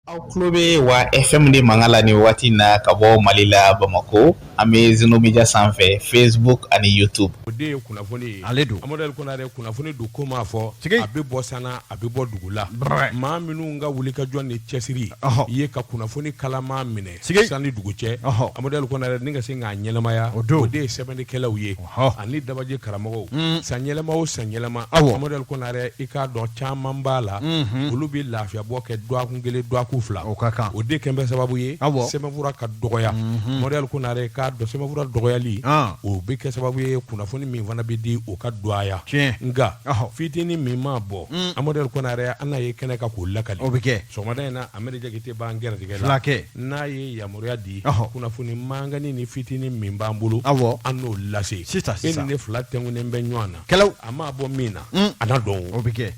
aw tulo bɛ wa fm de mankan la nin waati na ka bɔ mali la bamakɔ an bɛ zeno media sanfɛ facebook ani youtube o de ye kunnafoni ye ale don amadu ali kɔnare kunnafoni don ko maa fɔ a bɛ bɔ san na a bɛ bɔ dugu la maa minnu ka wulikajɔ ni cɛsiri ye ka kunnafoni kalaman minɛ san ni dugu cɛ amadu kɔnare ka se k'a ɲɛnamaya o don o de ye sɛbɛnnikɛlaw ye ani dabaji karamɔgɔw san yɛlɛma o san yɛlɛma aw amadu kɔnare i k'a dɔn caman b'a la olu bɛ lafiyabɔ kɛ dɔgɔkun kelen dɔgɔkun fila o ka kan o de kɛlen bɛ sababu ye aw sɛbɛnfura ka dɔgɔya amadu ali kɔnare k'a dɔn sɛbɛnfura dɔgɔyali o bɛ kɛ sababu ye kunnafoni min fana bɛ di o ka dɔgɔya nka fitinin min ma bɔ amadu kɔnare an n'a ye kɛnɛ kan k'o lakali o bɛ kɛ sɔgɔmada in na amadu jakite b'an gɛrɛtigɛ filakɛ n'a ye yamaruya di kunnafoni mankanni ni fitinin min b'an bolo aw an n'o lase sisan e ni ne fila tɛnkunnen bɛ ɲɔgɔn na kɛlɛ a ma bɔ min na mm. a na dɔn o bɛ kɛ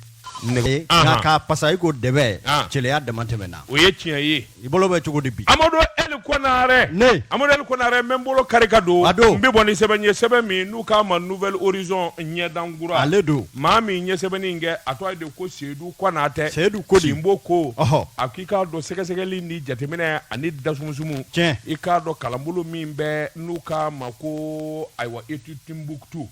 nɛgɛ ka pasa i ko dɛ cɛya damatɛmɛna o ye tiɲɛ ye i bolo bɛ cogo di bi amadu eli kɔnare amadu eli kɔnare n bɛ n bolo kari ka don a don n bɛ bɔ ni sɛbɛn ye sɛbɛn min n'u k'a ma nouvel horizon ɲɛdankura ale don maa min ye sɛbɛnni in kɛ a tɔgɔ de ko seyidu konatɛ seyidu ko di sinbo ko a ko i k'a dɔn sɛgɛsɛgɛli ni jateminɛ ani dasumusumu tiɲɛ i k'a dɔn kalanbolo min bɛ n'u k'a ma ko ayiwa etude Timbuktu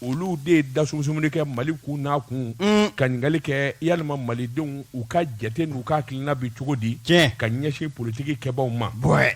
olu de ye dasumusumuni kɛ mali kun n'a kun mm. ka ɲininkali kɛ yalima malidenw u ka jate n'u ka hakilina bɛ cogo di tiɲɛ ka ɲɛsin politiki kɛbaaw ma bɔɛ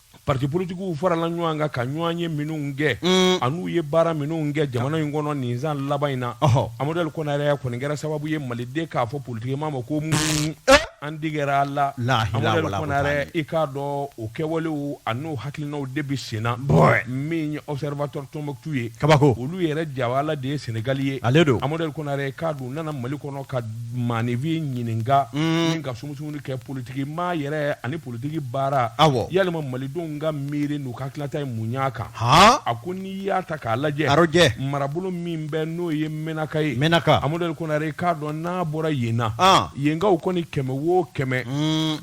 parti politigiw farala ɲɔgɔn kan ka ɲɔgɔnye minnu kɛ mm. an'u ye baara minnu kɛ jamana in kɔnɔ nin san laban in na amadu ali kɔnare a kɔni kɛra sababu ye maliden k'a fɔ politiki maa ma ko mun eh? an tigɛra aw la amadu ali kɔnare i k'a dɔn o kɛwalew an'o hakilinaw de bɛ sen na min ye observateur tombouctou ye kabako olu yɛrɛ jawala de ye senegali ye ale don amadu ali kɔnare k'a dun nana mali kɔnɔ ka maanifin ɲininka mm. min ka sumu sumuni kɛ politigi maa yɛrɛ ani politigi baara yalima malidenw ka miiri n'u ka hakilinata ye mun y'a kan a ko n'i y'a ta k'a lajɛ a lajɛ marabolo min bɛ n'o ye menaka ye menaka amadu ali kɔnare k'a dɔn n'a bɔra yen na yenkaw kɔni kɛmɛ wo kɛmɛ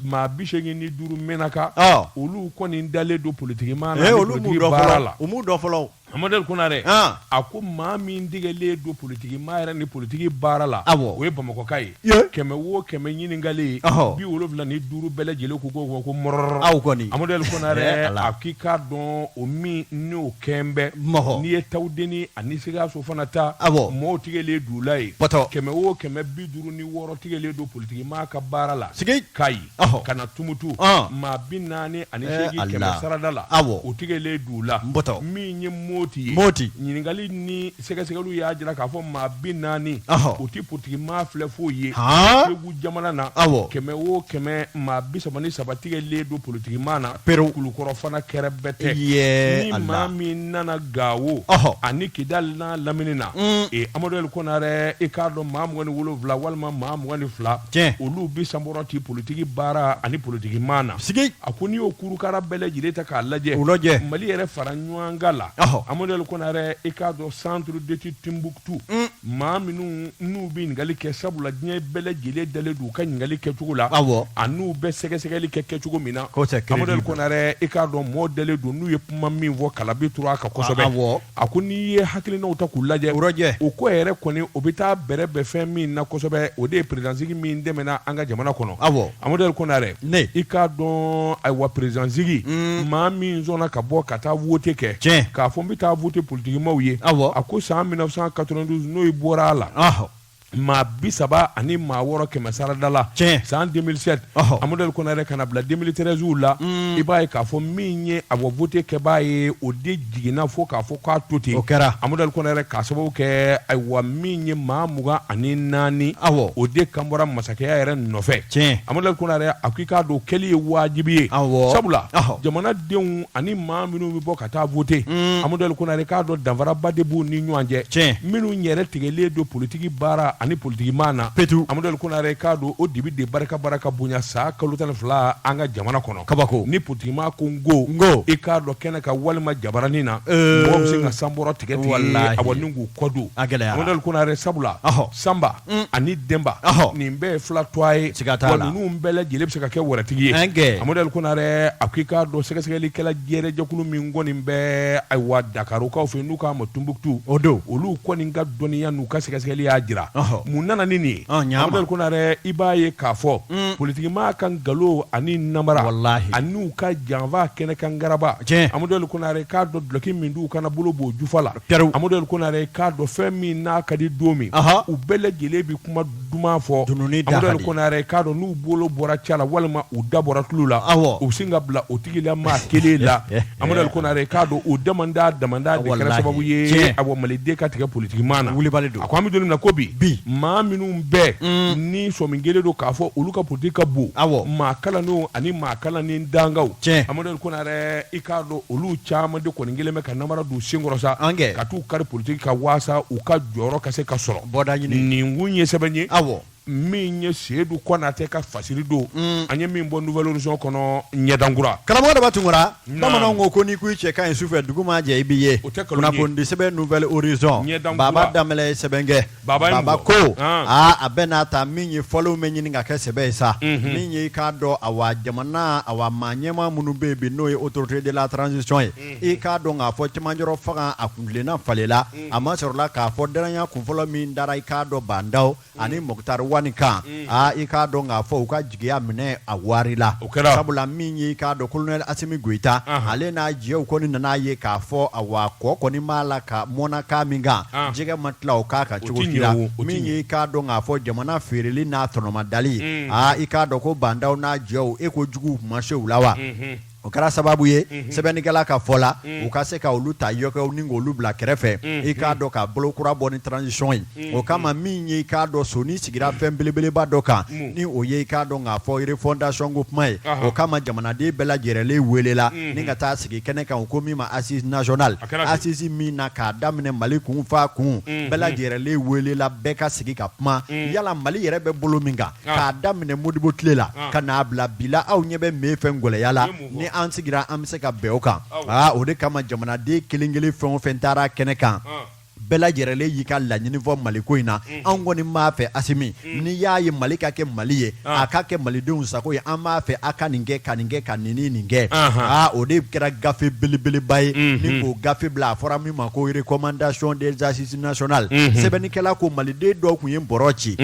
maa bi segin ni duuru menaka olu kɔni dalen don politigi maa la politigi baara la u dɔ fɔlɔ Amadu ali kɔnare a ko maa min tigɛlen don politigi maa yɛrɛ ni politigi baara la o ye bamakɔka ye kɛmɛ wo kɛmɛ ɲininkalen bi wolowula ni duuru bɛɛ lajɛlen ko ko ko amadu ali kɔnare a k'i k'a dɔn o min n'o kɛ bɛ n'i ye tawudeni ani sikaso fana ta mɔgɔw tigɛlen d'u la yen kɛmɛ wo kɛmɛ bi duuru ni wɔɔrɔ tigɛlen don politigi maa ka baara la sigi ka ɲi ka na tumutu maa bi naani ani eh, seegin kɛmɛ sarada la o tigɛlen d'u la min ye moti ye moti ɲininkali ni sɛgɛsɛgɛliw y'a jira k'a fɔ maa bi naani o tɛ politiki maa filɛ foyi ye segu jamana na kɛmɛ o kɛmɛ maa bi saba ni saba tigɛlen don politiki maa na perew kulukɔrɔ fana kɛrɛbɛtɛ ni maa min nana gawo ani kidali n'a lamini na mm. ee amadu konare i k'a dɔn maa mugan ni wolonwula walima maa mugan ni fila tiɲɛ olu bɛ sanbɔrɔ ti politiki baara ani politiki maa na sigi a ko n'i y'o kurukara bɛɛ lajɛlen ta k'a lajɛ u lajɛ mali yɛrɛ fara ɲɔgɔn kan la Ɔhɔ. amadu konare i k'a dɔn centre d'étude timbuktu maa minnu n'u bɛ ɲininkali kɛ sabula diɲɛ bɛɛ lajɛlen dalen don u ka ɲininkali kɛcogo la Awɔ. an'u bɛ sɛgɛsɛgɛli kɛ kɛcogo min na Kosɛbɛ, crédible. amadu konare i k'a dɔn mɔɔ dalen don n'u ye kuma min fɔ kala bɛ turu a kan kosɛbɛ Awɔ. A ko n'i ye hakilinaw ta k'u lajɛ o lajɛ o ko yɛrɛ kɔni o bɛ taa bɛrɛ bɛn fɛn min na kosɛbɛ o de ye peresidansigi min tɛmɛna an ka jamana kɔnɔ awɔ amadu konare i k'a dɔn ayiwa peresidansigi maa min sɔnna ka bɔ ka taa wote kɛ tiɲɛ k'a fɔ n bɛ taa wote politikimaaw ye awɔ a ko san 1992 n'o bɔra a la maa bi saba ani maa wɔɔrɔ kɛmɛ sarada la Tiɲɛ. san 2007 Ɔhɔ. amadu konare ka n'a bila 2013 la i b'a ye k'a fɔ min ye a bɔ vote kɛbaa ye o de jiginna fo k'a fɔ k'a to ten O kɛra. amadu konare k'a sababu kɛ ayiwa min ye maa mugan ani naani Awɔ. o de kan bɔra masakɛya yɛrɛ nɔfɛ Tiɲɛ. amadu konare a ko i k'a dɔn o kɛli ye waajibi ye Awɔ. sabula Ɔhɔ. jamanadenw ani maa minnu bɛ bɔ ka ka taa voter mm. Amadou Ali Konare k'a dɔn danfaraba de b'u ni ɲɔgɔn cɛ tiɲɛ minnu yɛrɛ tigɛlen don politiki baara ani politiki maa na petu Amadou Ali Konare k'a dɔn o dibi de barika baara ka bonya san kalo tan ni fila an ka jamana kɔnɔ kabako ni politiki maa ko n ko n ko i k'a dɔn kɛnɛ kan walima jabaranin na euh. mɔgɔ bɛ sin ka sanbɔrɔ tigɛ tigɛ awɔ ni k'u kɔ don a gɛlɛyara Amadou Ali Konare sabula sanba ani denba nin bɛɛ ye fila tɔɔ ye ninnu bɛɛ lajɛlen bɛ se ka kɛ wɛrɛtigi ye amadu konare a ko i k'a dɔn sɛgɛsɛgɛlikɛla yɛrɛ jɛkulu min kɔni bɛ ayiwa dakarukaw fɛ n'u k'a ma timbuktu o don olu kɔni ka dɔnniya n'u ka sɛgɛsɛgɛli y'a jira mun nana ni nin amadu konare i b'a ye k'a fɔ politikimaa ka nkalon ani nanbara ani'u ka janfa kɛnɛ kan garaba amadu konare k'a dɔn duloki min d'u kan na bolo b'o jufa la perew Amadou El Konare k'a dɔn fɛn min n'a ka di don min, anhan, u bɛɛ lajɛlen bɛ kuma duman fɔ, dununi da ka di, Amadou El Konare k'a dɔn n'u bolo bɔra ca la walima u da bɔra tulo la, awɔ, u bɛ sin ka bila o tigi la maa kelen la, Amadou El Konare k'a dɔn o damanda damanda de kɛra sababu ye, walahi, tiɲɛ, awɔ, Mali den ka tigɛ politikimaa na, wulibali don, a ko an bɛ don min na ko bi, bi, maa minnu bɛɛ, un, ni sɔmi kelen don k'a fɔ olu ka politiki ka bon, awɔ, maa kalannenw ani maa kalannen dankaw, tiɲɛ, Amadou El Konare i k'a dɔn olu caman de kɔni kɛlen bɛ ka namara don senkɔrɔ sa ankɛ ka t'u kari politigi kan waasa u ka jɔyɔrɔ ka se ka sɔrɔ bɔda ɲini nin kun ye sɛbɛn ye awɔ min ye seyidu kɔnatɛ ka fasiri don mm. an ye min bɔ nouvel horizon kɔnɔ ɲɛdankura karamɔgɔ daba tunkara bamananw ko ko n'i ko i cɛ ka ɲi sufɛ dugu ma jɛ i b'i ye o tɛ kunnafonidisɛbɛn nouvel horizon baaba danbɛlɛ ye sɛbɛn kɛ Baba baba ko a bɛn'a ta min ye fɔlenw bɛ ɲini ka kɛ sɛbɛ ye sa min ye i k'a dɔn awa jamana awa maa ɲɛmaa minnu bɛ bi n'o ye autorités de la transition ye i k'a dɔn k'a fɔ cɛmancɛrɔ fanga a kuntilenna falenna a masɔrɔla k'a fɔ dannaya kunfɔlɔ min dara i k'a dɔn ba ndaw ani mɔktari wani kan i k'a dɔn k'a fɔ ka jigiya minɛ a warila o kɛra sabula min ye i k'a dɔn kolonɛ asimi goyita ale n'a jɛw kɔni nana a ye k'a fɔ awa kɔ kɔni b'a la ka mɔnna kan min kan jɛgɛ ma tila o kan kan cogo kɛra min ye i k'a dɔn k'a fɔ jamana feereli n'a tɔnɔmadali aa i k'a dɔn ko ba ndaw n'a jɛw e ko jugu ma se u la wa o kɛra sababu ye sɛbɛnnikɛla ka fɔ la u ka se ka olu ta yɔkɛw ni ka olu bila kɛrɛfɛ i k'a dɔn ka bolo kura bɔ ni transition ye o kama min ye i k'a dɔn sɔɔni sigira fɛn belebeleba dɔ kan ni o ye i k'a dɔn k'a fɔ refondation ko kuma ye o kama jamanaden bɛɛ lajɛlenlen welela ni ka taa sigi kɛnɛ kan u ko min ma assises nationales asisi min na k'a daminɛ mali kun fo a kun bɛɛ lajɛlenlen welela bɛɛ ka sigi ka kuma yala mali yɛrɛ bɛ bolo min kan k'a daminɛ modibo tile la ka n'a bila bi la aw ɲɛ bɛ mun fɛn gɛlɛya la ni an sigira an bɛ se ka bɛn o kan aa o de kama jamanaden kelen kelen fɛn o fɛn taara kɛnɛ kan bɛɛ lajɛlenlen y'i ka laɲini fɔ mali ko in na anw kɔni b'a fɛ asimi n'i y'a ye mali ka kɛ mali ye a ka kɛ malidenw sago ye an b'a fɛ a ka nin kɛ ka nin kɛ ka nin nin kɛ aa o de kɛra gafe belebeleba ye ni k'o gafe bila a fɔra min ma ko recommandations des assises nationales sɛbɛnnikɛla ko maliden dɔw tun ye bɔ ci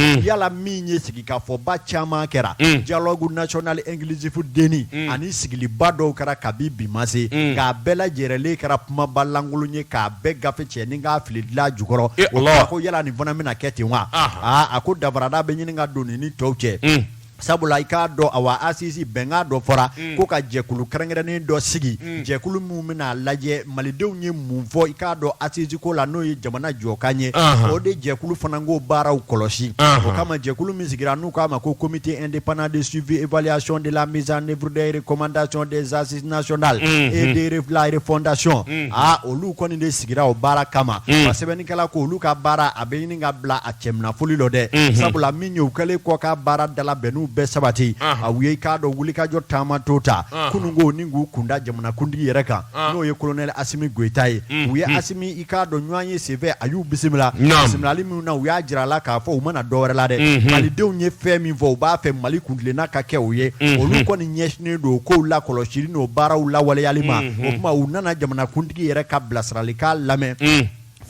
min ye sigikafɔba caman kɛra dialogue national inclusif DNI ani sigiliba dɔw kɛra kabi bi ma se nka a bɛɛ lajɛlenlen kɛra kumaba lankolon ye k'a bɛɛ gafe cɛ ni k'a fili dilan jukɔrɔ o ko yala nin fana bɛna kɛ ten wa aaa a ko danfara da bɛ ɲini ka don nin ni tɔw cɛ sabula i k'a dɔn awa asisi bɛnkan dɔ fɔra ko ka jɛkulu kɛrɛnkɛrɛnnen dɔ sigi jɛkulu minnu bɛna a lajɛ malidenw ye mun fɔ i k'a dɔn asisi ko la n'o ye jamana jɔkan ye o de jɛkulu fana k'o baaraw kɔlɔsi o kama jɛkulu min sigira n'u k'a ma ko comité indépendant de suivi évaluation de la mise en œuvre des recommandations des assises nationales et de la refondation aa olu kɔni de sigira o baara kama a sɛbɛnnikɛla ko olu ka baara a bɛ ɲini ka bila a cɛminɛ foli dɔ dɛ sabula min ye u kɛlen kɔ ka baarada labɛnniw bɛɛ sabati a u ye i k'a dɔn wulikajɔ taama dɔ ta kunun ko ni k'u kunda jamanakuntigi yɛrɛ kan n'o ye kolonɛli asimi goyita ye u ye asimi i k'a dɔn ɲɔgɔnye senfɛ a y'u bisimila bisimilali min na u y'a jira a la k'a fɔ u ma na dɔ wɛrɛ la dɛ malidenw ye fɛn min fɔ u b'a fɛ mali kuntilenna ka kɛ o ye olu kɔni ɲɛsinnen don kow lakɔlɔsili n'o baaraw lawaleyali ma o tuma u nana jamanakuntigi yɛrɛ ka bilasirali k'a lamɛn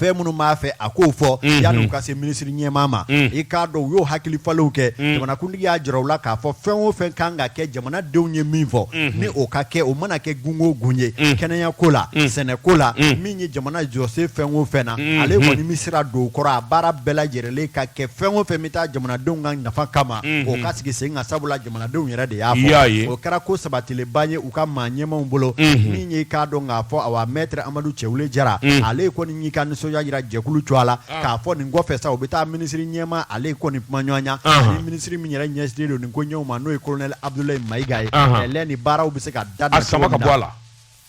fɛn minnu b'a fɛ a k'o fɔ Mhm. yanni u ka se minisiri ɲɛmaa ma Mm. i k'a dɔn u y'o hakili falenw kɛ Mm. jamanakuntigi y'a jira u la k'a fɔ fɛn o fɛn kan ka kɛ jamanadenw ye min fɔ Mhm. ni o ka kɛ o mana kɛ gun o gun ye Mm. kɛnɛya ko la Mm. sɛnɛ ko la Mm. min ye jamana jɔsen fɛn o fɛn na Mhm. ale kɔni bɛ sira don o kɔrɔ a baara bɛɛ lajɛlen ka kɛ fɛn o fɛn bɛ taa jamanadenw ka nafa kama Mhm. o ka sigi sen kan sabula Jamanadenw yɛrɛ de y'a fɔ, i y'a ye, o kɛra ko sabatilenba ye u ka maa ɲɛmaaw bolo, unhun, min ye i k'a dɔn k'a fɔ ayiwa maître Amadou Cɛwule Jara, unhun, ale kɔni y'i ka nisɔndiya jira jɛkulu tɔgɔ la, ɔn, k'a fɔ nin kɔfɛ sa u bɛ taa minisiri ɲɛmaa ale kɔni kumaɲɔgɔnya, ɔnhɔn, ani minisiri min yɛrɛ ɲɛsinnen don nin koɲɛw ma n'o ye colonel Abudulayi Mayiga ye, ɔnhɔn, kɛlɛ ni baaraw bɛ se ka dabila cogo min na, a sama ka bɔ a la.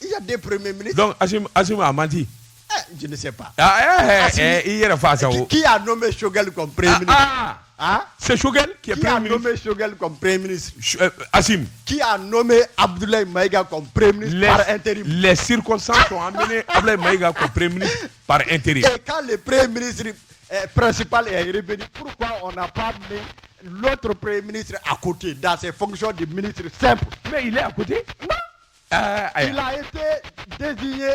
I ya den pere minɛ mini dɔn asi a man di jse pa i yɛrɛ fa sa k'i y'a dɔn bɛ sokɛkali kɔn pe se sokɛkɛ ke bɛ sokɛkali kɔn pe mini asi k'i y'a nɔ bɛ abudula ma ika kɔn pe mini teri lɛsiri sa an bɛ abu ma ika kɔn pe mini pa e teri k'ale pere minisiriri pɛsip pan lɔto pere minisiriri a ko ten dase fɔsi de minisiriri sɛ mɛ a kote Il a été désigné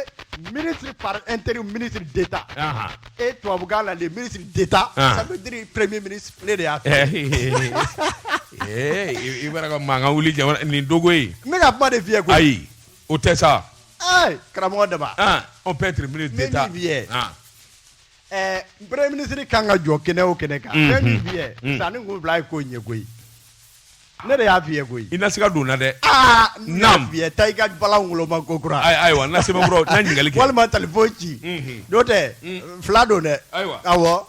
ministre par intérim ministre d'État. Et tu as là, le ministre d'État, ça veut dire premier ministre de y'a fɛ. I b'a ka mankan wuli jamana nin dogo ye. N bɛ ka kuma de f'i ye koyi. Ayi, o tɛ sa. Ayi, karamɔgɔ Daba. On peut être ministre d'État. ɛɛ premier ministre kan ka jɔ kɛnɛ o kɛnɛ kan. fɛn min bi yɛ. sa nin kun fila ye ko ɲɛ koyi. ne de y'a f'i ye koyi. i na siga donna dɛ. aa n y'a f'i ye taa i ka bala woloma ko kura. ayi ayiwa n na sɛbɛn kura n na ɲininkali kɛ. walima telefɔni ci. n'o tɛ fila don dɛ. ayiwa awɔ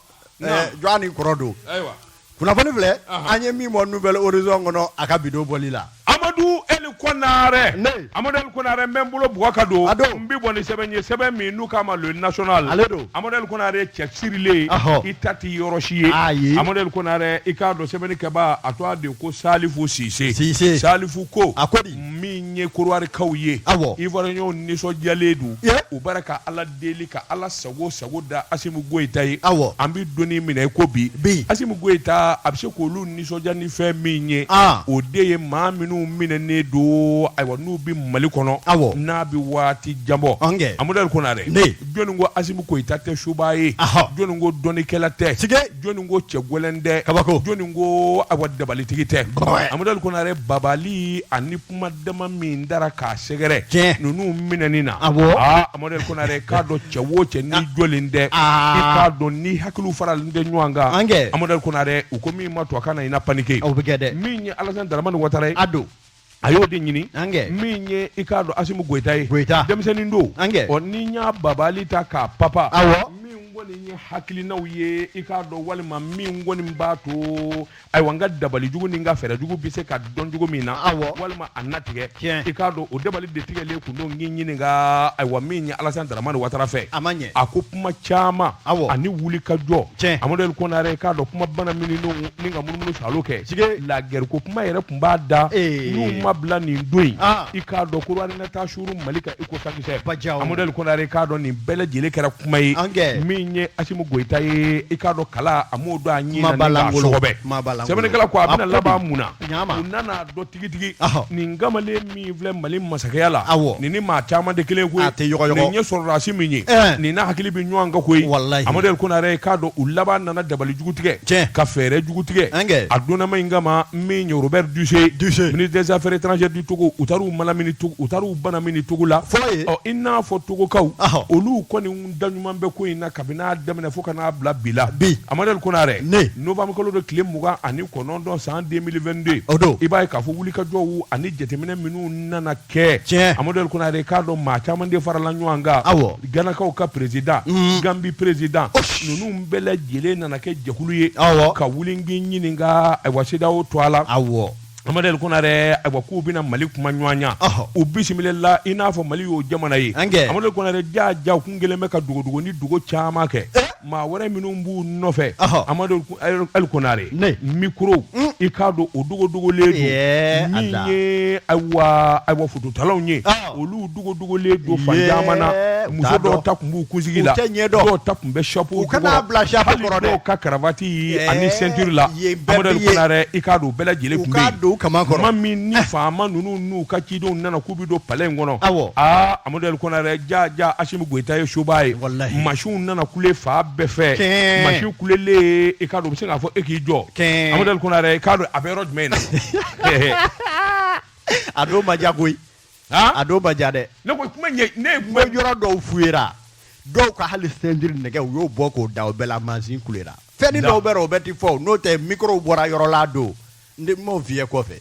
jɔn ni kɔrɔ don. ayiwa. kunnafoni filɛ an ye min bɔ nouvel horizon kɔnɔ a ka bidon bɔli la amadu eli konare amadu eli konare n bɛ n bolo bugɔ ka don n bɛ bɔ ni sɛbɛn ye sɛbɛn min n'u k'a ma le national ale don amadu eli konare cɛ sirilen i ta tɛ yɔrɔ si ye ayi amadu eli konare i k'a dɔn sɛbɛnni kɛbaa a tɔgɔ de ko salifu sise sise salifu ko a ko di min ye korowari kaw ye awɔ ivoiriyɛnw nisɔndiyalen don u bara ka ala deli ka ala sago sago da asimi goyita ye aw an bɛ don min na i ko bi bi asimi goyita a bɛ se k'olu nisɔndiya ni fɛn min ye o de ye maa minnu minɛnen don ayiwa n'u bɛ mali kɔnɔ aw n'a bɛ waati jan bɔ ankɛ amadu eli konare jɔnni ko asimi goyita tɛ subaa ye jɔnni ko dɔnnikɛla tɛ jɔnni ko cɛ gɛlɛn tɛ kabako jɔnni ko ayiwa dabalitigi tɛ amadu eli konare babali ani kuma dama min dara k'a sɛgɛrɛ Tiɲɛ. ninnu minɛni na Awɔ. aa Amadu Konare k'a dɔn cɛ o cɛ n'i jɔlen tɛ Aa. i k'a dɔn ni hakiliw faralen tɛ ɲɔgɔn kan An kɛ. Amadu Konare u ko min ma to a kana i na panike o bɛ kɛ dɛ min ye Alassane Dramane Ouattara ye a don a y'o de ɲini An kɛ. min ye i k'a dɔn Asimu Goyita ye Goyita. denmisɛnnin don An kɛ. ɔ ni n y'a babali ta k'a papa Awɔ. min kɔni ye hakilinaw ye i k'a dɔn walima min kɔni b'a to ayiwa n ka dabalijugu ni n ka fɛɛrɛjugu bɛ se ka dɔn cogo min na awɔ walima a natigɛ tiɲɛ i k'a dɔn o dabali de tigɛlen kun don n k'i ɲininka ayiwa min ye Alassane Dramane Ouattara fɛ a ma ɲɛ a ko kuma caman awɔ ani wulikajɔ tiɲɛ Amadou Konare i k'a dɔn kuma bana minnu don ni ka munumunu salo kɛ sige lagɛriko kuma yɛrɛ kun b'a da n'u ma bila nin don in i k'a dɔn ko suuru mali kan iko sakisɛ amadu konare k'a dɔn nin bɛɛ lajɛlen kɛra kuma ye min ye asimu goyita ye i k'a dɔn kala a m'o dɔn a ɲɛsɛbɛ sɛbɛnnikɛla ko a bɛna laban mun na u nana dɔn tigitigi nin kamalen min filɛ mali masakɛya la nin ni maa caman de kelen ko nin ye sɔrɔdasi min ye nin n'a hakili bɛ ɲɔgɔn kan koyi amadu konare k'a dɔn u laban nana dabalijugu tigɛ ka fɛɛrɛjugu tigɛ a donnama in kama min ye Robert Dussey ministre des affaires étrangères Togo u taar'u manamini Togo u taar'u banamini Togo la fɔlɔ ye ɔ i n'a fɔ togokaw Ɔhɔ. olu kɔni daɲuman bɛ ko in na kabini a daminɛ fo ka n'a bila bi la Bi. amadɛli konare Ne. novembre kalo don tile mugan ani kɔnɔntɔn san 2022 O don. i b'a ye k'a fɔ wulikajɔw ani jateminɛ minnu nana kɛ Tiɲɛ. amadɛli konare k'a dɔn maa caman de farala ɲɔgɔn kan Awɔ. ganakaw ka président gambi président Osh. ninnu bɛɛ lajɛlen nana kɛ jɛkulu ye Awɔ. ka wuli n k'i ɲininka ayiwa CEDEAO to a la awɔ Amadu ali konare ayiwa k'u bɛna mali kuma ɲɔgɔnya u bisimilala i n'a fɔ mali y'o jamana ye amadu konare jaa jaa u kun kɛlen bɛ ka dogodogo ni dogo caman kɛ maa wɛrɛ minnu b'u nɔfɛ amadu ali konare micro i k'a dɔn o dogodogolen don min ye ayiwa fototalaw ye dogodogolen don fan Yee, caman na u muso t'a dɔw dɔn. ta tun b'u kunsigi U la tɛ ɲɛ dɔn. dɔw ta tun bɛ chapeau U kana jukɔrɔ. bila chapeau Hali kɔrɔ dɛ. dɔw ka karavati Ɛɛ, ani ceinture la yen bɛɛ Amadu bɛ ye. Konare i k'a dɔn u bɛɛ lajɛlen U tun bɛ k'a yen. don u kaman kɔrɔ. tuma min ni faama ninnu n'u ka cidenw nana k'u bɛ don palais in kɔnɔ Awɔ. aa Amadu Konare jaa jaa Asimu Goyita ye soba ye Walahi. mansin nana kule fan bɛɛ fɛ Kɛɛ. mansin kulelen i k'a dɔn u bɛ se k'a fɔ e k'i jɔ Kɛɛ. Amadu Konare i k'a dɔn a bɛ yɔrɔ jumɛn in na a don ma diya koyi a don ma diya dɛ ne ko kuma ne yɔrɔ dɔw fuyera dɔw ka hali ceinture nɛgɛ u y'o bɔ k'o da o bɛɛ la mansin kulera fɛn dɔw bɛ o bɛ ti fɔ n'o tɛ mikɔrɔw bɔra yɔrɔ la don ne m'o f'i ye kɔfɛ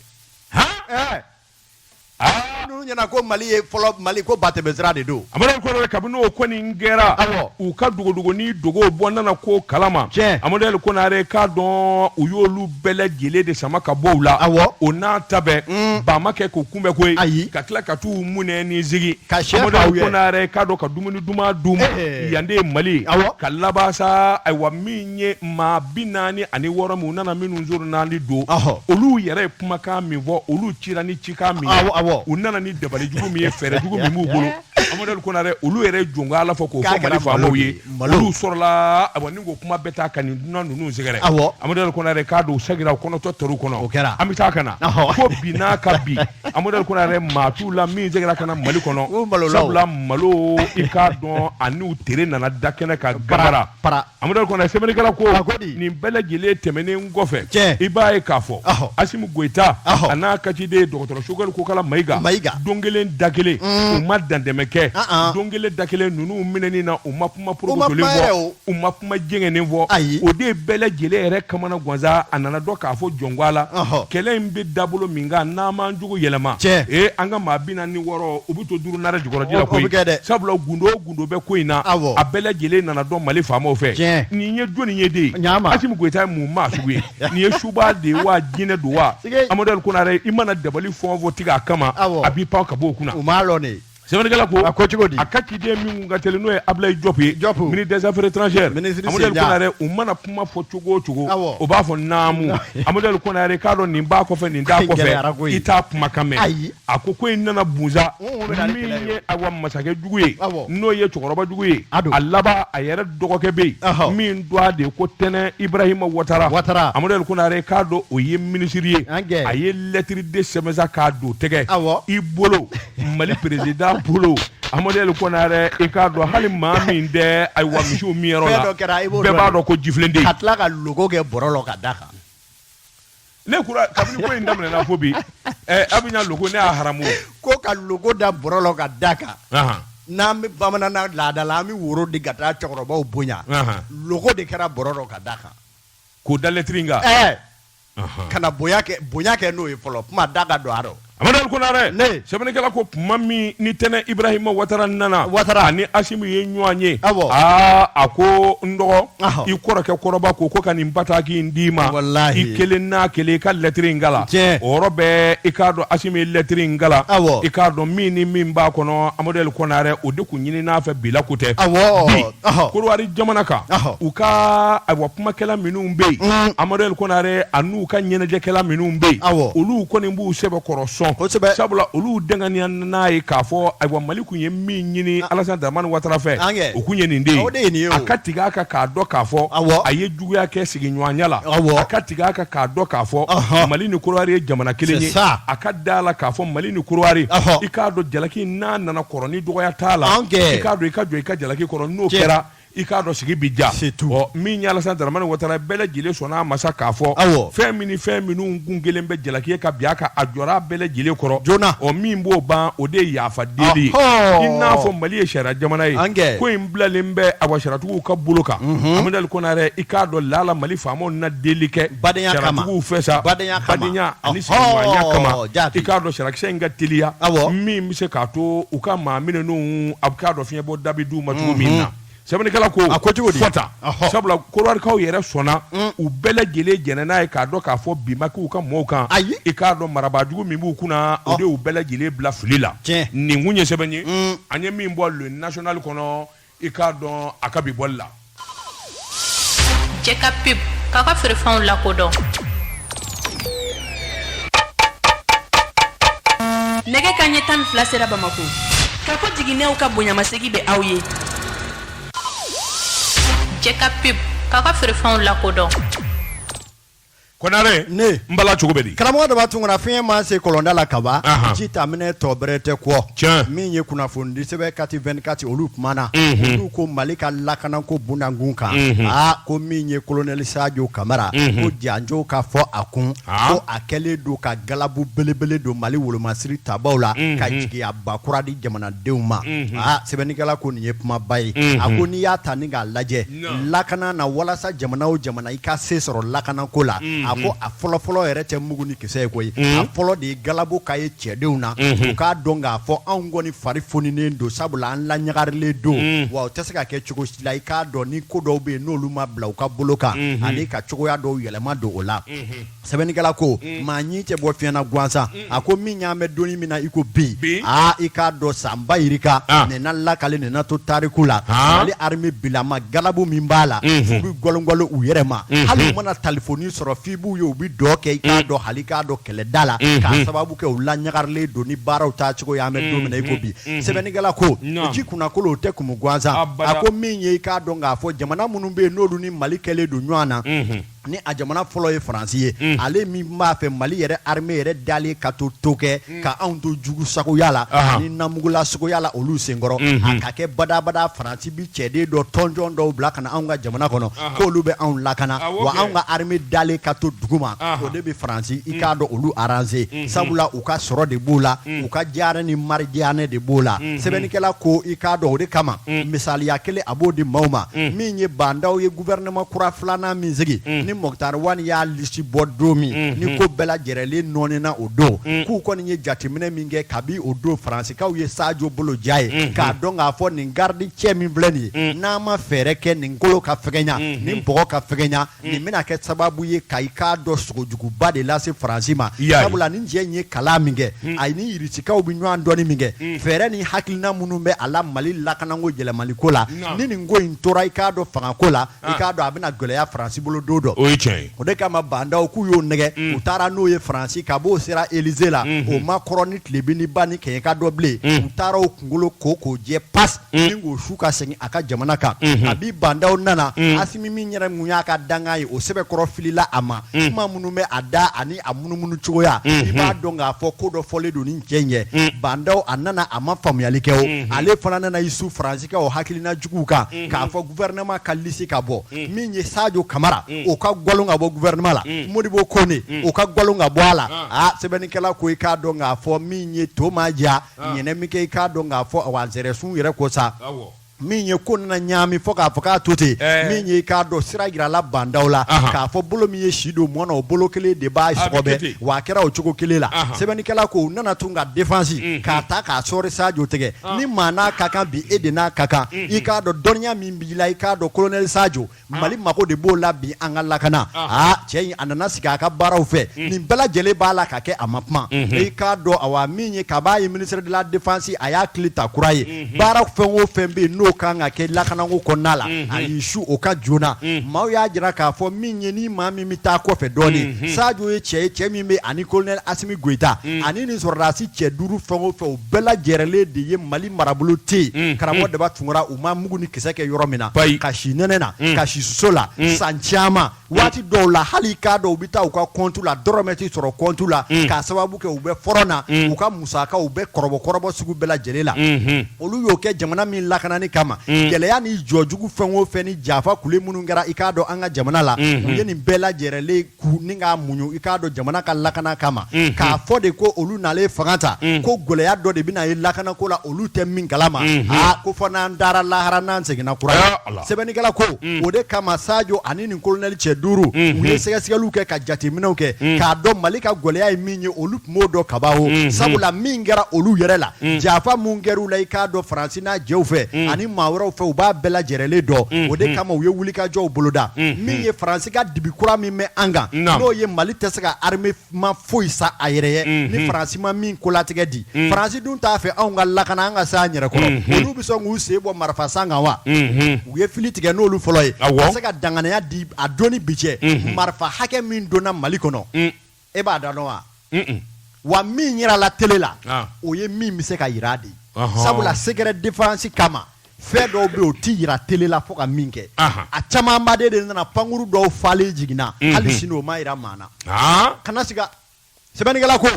n'u ɲɛna ko mali ye fɔlɔ mali ko ba tɛmɛsira de don amadu konare kabini o kɔni kɛra u ka dogodogonin dogow bɔ nana ko kalama tiɲɛ amadu konare k'a dɔn u y'olu bɛɛ lajɛlen de sama ka bɔ u la awɔ o n'a ta bɛn mm. ba ma kɛ k'u kunbɛ koyi ayi ka tila ka t'u munɛ ni zigi ka sɛ Amadu faw ye. Konare k'a dɔn ka dumuni duman d'u ma Eh. yan de ye Mali ye Awɔ. ka laban sa ayiwa min ye maa bi naani ani wɔɔrɔ min u nana minnu zoro naani don Ɔhɔ. olu yɛrɛ ye kumakan min fɔ olu cira ni cikan min ye Awɔ, awɔ. u nana ni dabali jugu min ye fɛɛrɛ jugu min b'u bolo Amadu Konare olu yɛrɛ jɔn ala fɔ k'o fɔ mali faamaw ye olu sɔrɔla ayiwa ni ko kuma bɛ taa ka nin dunan ninnu sɛgɛrɛ amadu konare k'a dɔn u sagira u kɔnɔtɔ tor'u kɔnɔ o kɛra an bɛ taa ka na fo bi n'a ka bi amadu konare maa t'u la min segira ka na mali kɔnɔ sabula malo i k'a dɔn a n'u tere nana da kɛnɛ kan gayarara Amadu Konare sɛbɛnnikɛla ko, a ko di, nin bɛɛ lajɛlen tɛmɛnen kɔfɛ, tiɲɛ, i b'a ye k'a fɔ, ɔhɔ, Asimu Goyita, ɔhɔ, a n'a ka ciden dɔgɔtɔrɔ Sogɛli Kokala Mayiga, Mayiga, don kelen da kelen, un, u ma dantɛmɛ kɛ, an an, don kelen da kelen ninnu minɛni na u ma kuma porokotolen fɔ, u ma kuma jɛngɛnen fɔ, ayi, o de ye bɛɛ lajɛlen yɛrɛ kamana gan sa, a nana dɔn k'a fɔ jɔnko a la, ɔhɔ, kɛlɛ in bɛ dabolo min kan n'an m'an jogo yɛlɛma, tiɲɛ, ee an ka maa bi naani ni wɔɔrɔ u bɛ to duuru nara jukɔrɔji la koyi, o bɛ kɛ dɛ, sabula gundo o gundo gundo bɛ ko in na awɔ a bɛɛ lajɛlen nana dɔn mali faamaw fɛ Tiɲɛ. nin ye jɔni ye dɛ Naamu. asimu goyita ye mun maa sugu ye nin ye suba de ye wa jinɛ don wa Sige. amadou konare i mana dabali fɛn o fɛn tigɛ a kama Awɔ. a b'i pan ka bɔ o kunna u m'a lɔn de sɛbɛnnikɛla ko A ko cogo di? a ka ciden min ka teli n'o ye ablayi jɔp ye Diop. ministre des affaires étrangères Ministre amadou Sendiya. konare u mana kuma fɔ cogo o cogo Awɔ. o b'a fɔ naamu amadou konare k'a dɔn nin b'a kɔfɛ nin t'a Gɛlɛyara kɔfɛ koyi. i t'a kumakan mɛn Ayi. a ko ko in nana bunza min ye awa masakɛ jugu ye n'o ye cɛkɔrɔba jugu ye a laban a yɛrɛ dɔgɔkɛ bɛ yen min tɔgɔ de ye ko tɛnɛ ibrahima watara watara amadu konare k'a dɔn o ye minisiri ye a ye lɛtiri de sɛbɛn sa k'a don tɛgɛ i bolo mali perezidan bolo amadu konare i k'a dɔn hali maa min tɛ ayiwa misiw minyɔrɔ la bɛɛ b'a dɔn ko jifilen de ka tila ka logo kɛ bɔrɔ la ka da kan Ne kura kabini ko in daminɛna fo bi ɛ Abijan logo ne y'a haramu ko ka logo da bɔrɔ la ka da kan n'an bɛ bamananna laada la an bɛ woro di ka taa cɛkɔrɔbaw bonya logo de kɛra bɔrɔ la ka da kan k'o da lɛtiri in kan ka na bonya kɛ n'o ye fɔlɔ kuma da ka don a rɔ. Amadu Konare sɛbɛnnikɛla ko tuma min ni tɛnɛ Ibrahima Watara nana Watara ani Asimu ye ɲɔgɔn ye awɔ aa a ko n dɔgɔ i kɔrɔkɛ kɔrɔba ko ko ka nin bataki in d'i ma walahi i kelen n'a kelen i ka lɛtiri in kalan tiɲɛ o yɔrɔ bɛɛ i k'a dɔn Asimu ye lɛtiri in kalan awɔ i k'a dɔn min ni min b'a kɔnɔ Amadu Konare o de tun ɲinin'a fɛ bila ko tɛ awɔ bi Kodowari jamana kan u ka kumakɛla minnu bɛ yen mm. amadu kɔnare a n'u ka ɲɛnajɛkɛla minnu bɛ yen olu kɔni b'u sɛbɛ kɔrɔ sabula olu danganiya n'a ye k'a fɔ ayiwa mali kun ye min ɲini ah. alasani dramani watara fɛ o kun ye nin de ye a ka tigɛ a kan k'a dɔn k'a fɔ a ye juguya kɛ sigiɲɔgɔnya la a ka tigɛ a kan k'a dɔn k'a fɔ mali ni kodowari ye jamana kelen ye a ka da la k'a fɔ mali ni kodowari i k'a dɔn jalaki n'a nana kɔrɔ ni dɔgɔya t'a la i k'a dɔn i ka jɔ i ka jalaki kɔrɔ n'o kɛra i k'a dɔn sigi bɛ diya min ye alasani dramani watara bɛɛ lajɛlen sɔnna a ma sa k'a fɔ fɛn min fɛn minnu kun kɛlen bɛ jalaki ye ka bin a kan a jɔra bɛɛ lajɛlen kɔrɔ joona o min b'o ban o de ye yafa deli ye i n'a fɔ mali ye sariya jamana ye ko in bilalen bɛ awa sariyatigiw ka bolo kan amadu kɔnare i k'a dɔn lala mali faamaw na deli kɛ sariyatigiw fɛ sa badenya ani sigiɲɔgɔnya kama i k'a dɔn sariyakisɛ in ka teliya min bɛ se k'a to u ka maa minnu a bɛ k'a dɔn bɔda bɛ d'u ma cogo min na sɛbɛnnikɛla ko a ko cogo di fɔta sabula kodowarikaw yɛrɛ sɔnna mm. u bɛɛ lajɛlen jɛnnen n'a ye k'a dɔn k'a fɔ bin ma k'u ka mɔɔw kan ayi i k'a dɔn marabaa jugu min b'u kunna o de y'u bɛɛ lajɛlen bila fili la nin kun ye sɛbɛn ye mm. an ye min bɔ le national kɔnɔ i k'a dɔn a ka bi bɔli la Jɛka pub k'a ka feerefɛnw lakodɔn nɛgɛ kanɲɛ tan ni fila sera bamakɔ kafo jiginɛw ka bonyamasegin bɛ aw ye jɛka pub k'a ka feerefɛnw lakodɔn Kɔnare ne n bala cogo bɛ di karamɔgɔ daba tunkara fiyen ma se kɔlɔnda la kaban jitaminɛn tɔ bɛrɛ tɛ kɔ min ye kunnafonidi sɛbɛn kati vingt-quatre olu kumana olu ko mali ka lakanako kun kan aa ko min ye kolonɛli sajo kamara ko janjo ka fɔ a kun ko a kɛlen don ka galabu belebele don mali wolomasiri tabaaw la ka jigiyaba kura di jamanadenw ma aa sɛbɛnnikɛla ko nin ye kumaba ye a ko n'i y'a ta ni k'a lajɛ lakana na walasa jamana o jamana i ka se sɔrɔ lakana ko la a ko a fɔlɔfɔlɔ yɛrɛ tɛ mugu ni kisɛ ye koyi a fɔlɔ de ye galabu ka ye cɛdenw na u k'a dɔn k'a fɔ anw kɔni fari foninen don sabula an laɲagarilen don wa o tɛ se ka kɛ cogo si la i k'a dɔn ni ko dɔw bɛ yen n'olu ma bila u ka bolo kan ani ka cogoya dɔw yɛlɛma don o la sɛbɛnnikɛla ko mm. maa ɲin tɛ bɔ fiɲɛ na gansan mm. a ko min y'an bɛ don min na i ko bi aa i k'a dɔn sanba yirika ah. nin na lakali nin na to tariku la ah. mali arimɛ bilama galabu min b'a la mm-hmm. f'u bɛ gɔlɔngɔlɔ u yɛrɛ ma mm-hmm. hali u mana talifoni sɔrɔ f'i b'u ye u bɛ dɔn kɛ i k'a mm. dɔn hali k'a dɔn kɛlɛda la mm-hmm. k'a sababu kɛ u laɲagarilen don ni baaraw taa cogo y'an bɛ don min na i ko bi sɛbɛnnikɛla ko ji kunnakolo o tɛ kumu gansan a ko min ye i k'a dɔn k'a fɔ jamana minnu bɛ yen n'olu ni mali kɛlen don ɲɔgɔn na ni a jamana fɔlɔ ye faransi ye mm. ale min b'a fɛ mali yɛrɛ armée yɛrɛ dalen ka to to kɛ mm. ka anw to jugu sagoya la ni namugula sagoya la olu senkɔrɔ mm-hmm. a ka kɛ badabada faransi bɛ cɛden dɔ tɔnjɔn dɔw bila ka na anw ka jamana kɔnɔ k'olu bɛ anw lakana ah, wa anw ka armée dalen ka to duguma o de bɛ faransi i mm. k'a dɔn olu arranger mm-hmm. sabula u ka sɔrɔ de b'o la u ka diyara ni mari diyanye de b'o la mm-hmm. sɛbɛnnikɛla ko i k'a dɔn o de kama misaliya kelen a b'o di maaw ma min ye bandaw ye gouvernement kura filanan min sigi ni Mukutari Wan y'a liste bɔ don min ni ko bɛɛ lajɛrɛlen nɔɔnina o don k'u kɔni ye jateminɛ min kɛ kabi o don Faransikaw ye Sajo bolo ja ye k'a dɔn k'a fɔ nin garde cɛ min filɛ nin ye n'an ma fɛɛrɛ kɛ nin kolo ka fɛgɛnya nin bɔgɔ ka fɛgɛnya nin bɛna kɛ sababu ye ka i k'a dɔn sogojuguba de lase Faransi ma I y'a ye. sabula nin cɛ in ye kalan min kɛ a ni Irisikaw bɛ ɲɔgɔn dɔnni min kɛ fɛɛrɛ ni hakilina minnu bɛ a la Mali lakananko yɛlɛmaliko la ni nin ko in tora i k'a dɔn fanga ko la i k'a dɔn a bɛna gɛlɛya faransi bolo don dɔ o ye tiɲɛ ye o de kama bandaw k'u y'o nɛgɛ u taara n'o ye faransi kab'o sera Élysée la o Macron ni tilebin ni ba ni kɛɲɛ ka dɔ bilen u taara o kunkolo ko k'o jɛ pas ni k'o su ka segin a ka jamana kan a bi bandaw nana Asimi min yɛrɛ mun y'a ka dankan ye o sɛbɛkɔrɔ filila a ma kuma minnu bɛ a da ani a munumunu cogoya i b'a dɔn k'a fɔ ko dɔ fɔlen don nin cɛ in ye bandaw a nana a ma faamuyali kɛ o ale fana nana i su faransi ka o hakilina juguw kan mhm. k'a fɔ gouvernement ka lisi ka bɔ mhm. min ye Sadio Kamara mhm. o ka gwalon ka bɔ gouvernement la Modibo Kone o ka gwalon ka bɔ a la ah. a ah, sɛbɛnnikɛla ko i k'a dɔn k'a fɔ min ye to ma diya ah. ɲɛnɛ min kɛ i k'a dɔn k'a fɔ wa zɛrɛsun yɛrɛ ko sa min ye ko nana ɲaami fɔ k'a fɔ k'a to ten eh. min ye k'a dɔn sira jirala bandaw la k'a fɔ bolo min ye si don mɔni na o bolo kelen de b'a sɔgɔbɛ wa a kɛra o cogo kelen la sɛbɛnnikɛla ko u nana tun ka defansi mm-hmm. k'a ta k'a sɔɔri Sajo tɛgɛ ni maa n'a ka kan bi e de n'a ka kan i k'a dɔn dɔnniya min b'i la i k'a dɔn kolonɛli Sajo mali mago de b'o la bi an ka lakana aa cɛ in a nana sigi a ka baaraw fɛ nin bɛɛ lajɛlen b'a la ka kɛ a ma kuma i k'a dɔn awa min ye kab'a ye ministre de la défense a y'a kile ta kura ye baara fɛn o fɛn bɛ yen n'o kan ka kɛ lakanako kɔnɔna la a y'i su o kan joona maaw y'a jira k'a fɔ min ye ni maa min bɛ taa kɔfɛ dɔɔnin sajo ye cɛ ye cɛ min bɛ ani kolonɛli Asimi Goyita ani nin sɔrɔdasi cɛ duuru fɛn o fɛ bɛɛ lajɛrɛlen de ye mali marabolo tɛ yen karamɔgɔ Daba Tunkara u ma mugu ni kisɛ kɛ yɔrɔ min na ka si nɛnɛ na ka si soso la san caman waati dɔw la hali i k'a dɔn u bɛ taa u ka kɔntu la dɔrɔmɛ tɛ sɔrɔ kɔntu la k'a sababu kɛ u bɛ front na u ka musakaw u bɛ kɔrɔbɔkɔrɔbɔ sugu bɛɛ lajɛlen la olu y'o kɛ jamana min lakanani kama gɛlɛya ni jɔ jugu fɛn o fɛn ni janfa kule minnu kɛra i k'a dɔn an ka jamana la u ye nin bɛɛ lajɛrɛlen ka muɲu i k'a dɔn jamana ka lakana kama k'a fɔ de ko olu nalen fanga ta ko gɛlɛya dɔ de bɛna ye lakana ko la olu tɛ min kalama ko fo n'an taara lahara n'an seginna kura sɛbɛnnikɛla ko o de kama sajo ani ni kolonɛli cɛ duuru u ye sɛgɛsɛgɛliw kɛ ka jateminɛw kɛ k'a dɔn mali ka gɛlɛya ye min ye olu dɔn kaban sabula min kɛra olu yɛrɛ la janfa min kɛra u la i k'a dɔn faransi n'a jɛw fɛ ani maa wɛrɛw fɛ u b'a bɛɛ lajɛlen dɔn o de kama u ye wulikajɔw boloda min ye faransi ka dibi kura min bɛ an kan n'o ye mali tɛ se ka armement foyi san a yɛrɛ ye ni faransi ma min kolatigɛ di faransi dun t'a fɛ anw ka lakana an ka se an yɛrɛ kɔrɔ olu bɛ sɔn k'u sen bɔ marifa san kan wa u ye fili tigɛ n'olu fɔlɔ ye se ka danganiya di a don ni bi cɛ marifa hakɛ min donna mali kɔnɔ e b'a da dɔn wa wa min yirala tele la o ye min bɛ se ka yira de sabula secret défense kama fɛn dɔw bɛ o tɛ yira tele la fo ka min kɛ a camanba de nana pankuru dɔw falen jiginna hali sini o ma yira maa na kana siga sɛbɛnnikɛla ko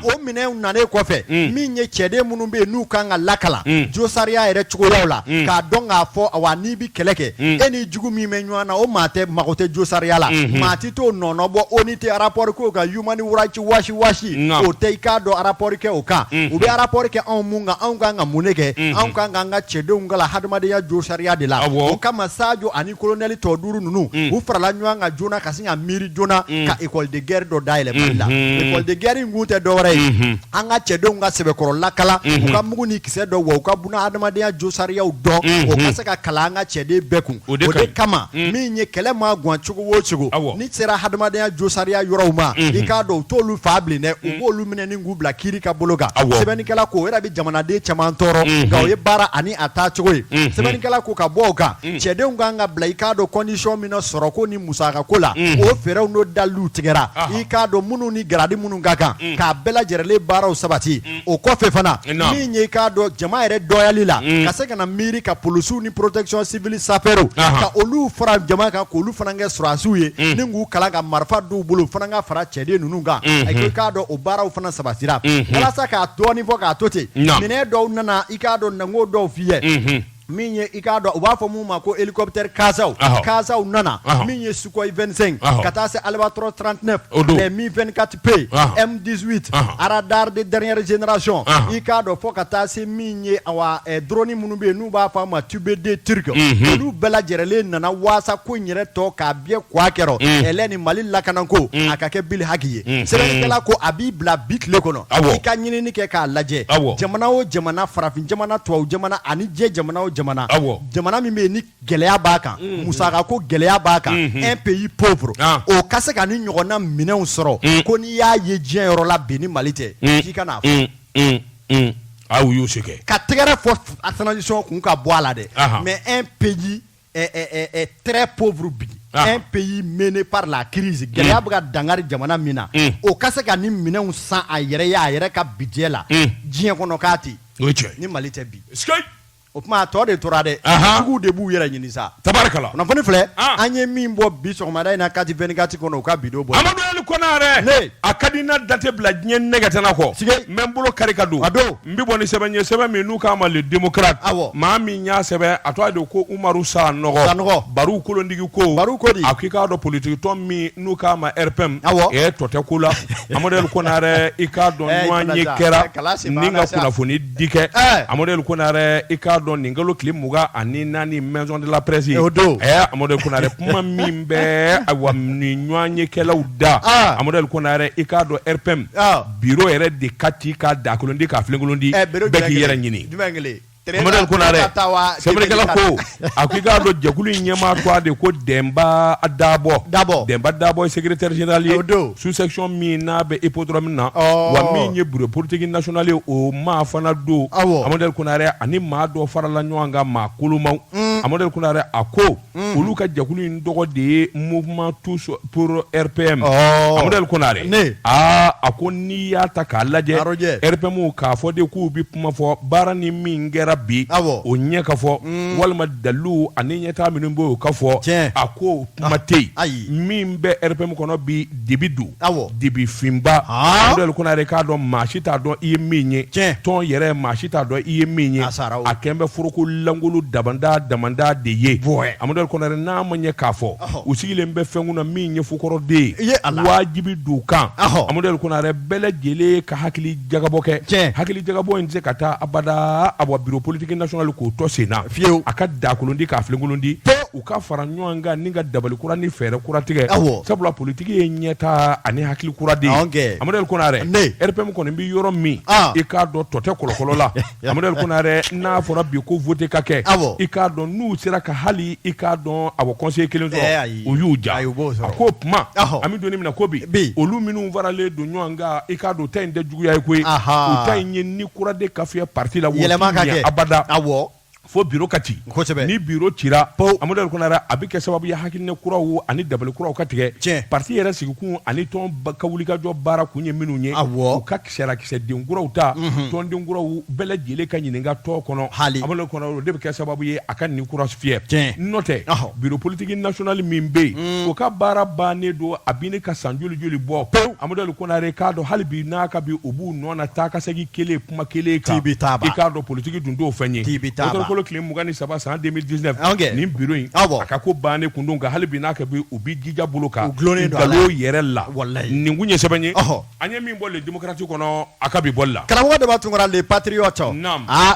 o minɛnw nanen kɔfɛ min ye cɛden minnu bɛ yen n'u kan ka lakalan josariya yɛrɛ cogoyaw la k'a dɔn k'a fɔ wa n'i bɛ kɛlɛ kɛ e ni jugu min bɛ ɲɔgɔn na o maa tɛ mago tɛ josariya la I t'o nɔɔnɔ bɔ ONU tɛ rapport k'o kan human rights watch watch nka o tɛ i k'a dɔn rapport kɛ o kan unhun u bɛ rapport kɛ anw mun kan anw kan ka mun de kɛ unhun anw kan k'an ka cɛdenw kalan hadamadenya jo sariya de la awɔ o kama Sajo ani colonel tɔ 5 ninnu un u farala ɲɔan kan joona ka sin ka miiri joona un ka école de guerre dɔ dayɛlɛ Mali la unhun école de guerre in kun tɛ dɔwɛrɛ ye unhun an ka cɛdenw ka sɛbɛkɔrɔ lakalan u ka mugu ni kisɛ dɔn wa u ka buna adamadenya jo sariyaw dɔn unhun o ka se ka kalan an ka cɛden bɛɛ kun o de kama un min ye kɛlɛ maa guwan cogo o cogo awɔ n'i sera hadamadenya jo sariya yɔrɔw ma unhun i k'a dɔn u t'olu faa bilen dɛ u b'olu minɛ ni k'u bila kiiri ka bolo kan awɔ sɛbɛnnikɛla ko o yɛrɛ bɛ jamanaden caman tɔɔrɔ unhun nka o ye baara ani a taacogo ye unhun sɛbɛnnikɛla ko ka bɔ o kan un cɛdenw ka kan ka bila i k'a dɔn condition min na sɔrɔko ni musakako la unhun o fɛɛrɛw n'o daliluw tigɛra i k'a dɔn minnu ni garadi minnu ka kan unhun k'a bɛɛ lajɛrɛlen baaraw sabati un o kɔfɛ fana min ye k'a dɔn jama yɛrɛ dɔyali la ka se ka na miiri ka polisiw ni protection civile sapeurw k'olu fara jama kan k'olu fana kɛ sɔrɔdasiw ye ni k'u kalan ka marifa don u bolo fana ka fara cɛden ninnu kan i k'a dɔn o baaraw fana sabasira walasa k'a dɔɔnin fɔ k'a to ten minɛn dɔw nana i k'a dɔn n'an k'o dɔw f'i ye min ye i k'a dɔn u b'a fɔ min ma ko hélicoptère Casaw, ɔhɔ, Casaw nana, ɔhɔ, min ye Sukhoi 25 ɔhɔ, ka taa se Albatros 39 O don. les Mi 24 P Ɔhɔ. M 18 Ɔhɔ. radar de dernière génération Ɔhɔ. i k'a dɔn fo ka taa se min ye awa eh, drone minnu bɛ yen n'u b'a fɔ a ma TB2 turc olu bɛɛ lajɛrɛlen nana waasa ko in yɛrɛ tɔ k'a biyɛ kɔ a kɛrɔ ɛlɛ ni Mali lakanako a ka kɛ bilhaki ye sɛbɛnnikɛla ko a b'i bila bi tile kɔnɔ i ka ɲinini kɛ k'a lajɛ jamana o jamana farafin jamana tubabu jamana ani diɲɛ jamana o jamana jamana min bɛ yen ni gɛlɛya b'a kan musaka ko gɛlɛya b'a kan un pays pauvre o ka se ka ni ɲɔgɔnna minɛnw sɔrɔ ko n'i y'a ye diɲɛ yɔrɔ la bi ni mali tɛ k'i kan'a fɔ a y'a se kɛ ka tɛgɛrɛ fɔ transition kun ka bɔ a la dɛ mais un pays eh, eh, eh, eh très pauvre bi ah. un pays miné par la crise mm. gɛlɛya bɛ ka dangari jamana min na mm. o ka se ka ni minɛnw san a yɛrɛ ye a yɛrɛ ka budget la mm. diɲɛ kɔnɔ k'a tɛ o ye tiɲɛ ye ni Mali tɛ bi o kuma tɔ de tora dɛ juguw de b'u yɛrɛ ɲini sa tabarikala kunnafoni filɛ ah. an ye min bɔ bi sɔgɔmada in na kati vingt-quatre kɔnɔ u ka bi don bɔ amadu ali konare a ka di n na date bila diɲɛ nɛgɛtana kɔ n bɛ n bolo kari ka don a don n bɛ bɔ ni sɛbɛn ye sɛbɛn min n'u k'a ma le démocrate awɔ maa min y'a sɛbɛn a tɔgɔ de ko Umaru Sanɔgɔ Sanɔgɔ Baru kolondigi ko Baru ko di a k'i k'a dɔn politique tɔn min n'u k'a ma RPM awɔ ɛ tɔ tɛ ko la Amadu Ali Konare i k'a dɔn eh, ɲɔgɔnye kɛra ni ka kunnafoni di kɛ eh. Amadu Ali Konare i k'a dɔn nin kalo tile mugan ani naani maison de la presse eh, o don ɛ Amadu Ali Konare kuma min bɛ awa ni ɲɔgɔnyekɛlaw da ah. Amadu Ali Konare i k'a dɔn RPM ah. bi yɛrɛ de ka ci ka dakolon di ka fikolon di bɛɛ k'i yɛrɛ ɲini kokɛla ko a ko i k'a dɔn jɛkulu in ɲɛmaa de ko denba dabɔ dabɔ denba dabɔ sɛgɛrɛrezli o don susɛcɔn min n'a bɛ ip dɔrɔn min na wa min ye bolo porotigi nasionali o maa fana don a amadu kore ani maa dɔ farala ɲɔgɔn kan maa kolonmaw a amadu kore a ko olu ka jɛkulu in tɔgɔ de ye mouvement tous pour RPM oh. Amadu Ali Konare a a ko n'i y'a ta k'a lajɛ RPM k'a fɔ de k'u bɛ kuma fɔ baara ni min kɛra bi awɔ o ɲɛ ka fɔ mm. walima dalilu ani ɲɛtaa minnu bɛ yen o ka fɔ tiɲɛ a ko kuma tɛ yen ayi min bɛ RPM kɔnɔ bi dibi don dibi finba amadu ali konare i k'a dɔn maa si t'a dɔn i ye min ye tɔn yɛrɛ maa si t'a dɔn i ye min ye a kɛlen bɛ foroko lankolon damanda damanda de ye amadu ali konare n'a ma ɲɛ k'a fɔ u sigilen bɛ fɛn kunna min ye fu kɔrɔ de ye a wajibi don k'an amadu ali konare bɛɛ lajɛlen ka hakili jagabɔ kɛ hakili jagabɔ in tɛ se ka taa abada a bɔ bureau politique national k'o tɔ sen na fiyewu a ka daakolon ci k'a filenkolon ci u ka fara ɲɔgɔn kan ni ka dabali kura ni fɛɛrɛ kura tigɛ sabula politique ye ɲɛtaa ani hakili kura de ye amadu ali konare RPM kɔni bɛ yɔrɔ min ah. i k'a dɔn tɔ tɛ kɔlɔkɔlɔ la amadu ali konare n'a fɔra bi ko vote ka kɛ i k'a dɔn n'u sera ka hali i k'a dɔn awa conseiller kelen sɔrɔ eh, u y'u ja a ko kuma an bɛ don min na ko bi olu minnu faralen don ɲɔgɔn kan i k'a dɔn ta in tɛ juguya ye koyi u ta in ye ni kura de ka fiyɛ parti la yɛlɛma ka kɛ abada fo biro ka ci ni biro cira amadu konare a bɛ kɛ sababu ye hakilina kuraw ani dabali kuraw ka tigɛ parti yɛrɛ sigikun ani tɔn ka wulikajɔ baara kun ye minnu ye u ka kisɛrakisɛden kuraw ta mhm. tɔnden kuraw bɛɛ lajɛlen ka ɲininka tɔn kɔnɔ amadu konare o de bɛ kɛ sababu ye a ka ni kura fiyɛ n'o tɛ biro politiki national min bɛ yen mm. o ka baara bannen don a bɛ ne ka san joli joli bɔ pewu amadu konare k'a dɔn hali bi n'a ka bi u b'u nɔ na taa ka segin kelen kuma kelen kan k'i taa i k'a dɔn politiki dun t'o fɛn ye k'ɔkutɔburukalo tile mugan ni saba san de mili disinɛfi nin biro in a ka ko bannen kun don nka hali bi n'a kɛ bi u bɛ jija bolo kan dulonnen don yɛrɛ la nin kun ye sɛbɛn ye an ye min bɔ le demokrati kɔnɔ a ka bi bɔ la karamɔgɔ daba tunkara le patiriyɔti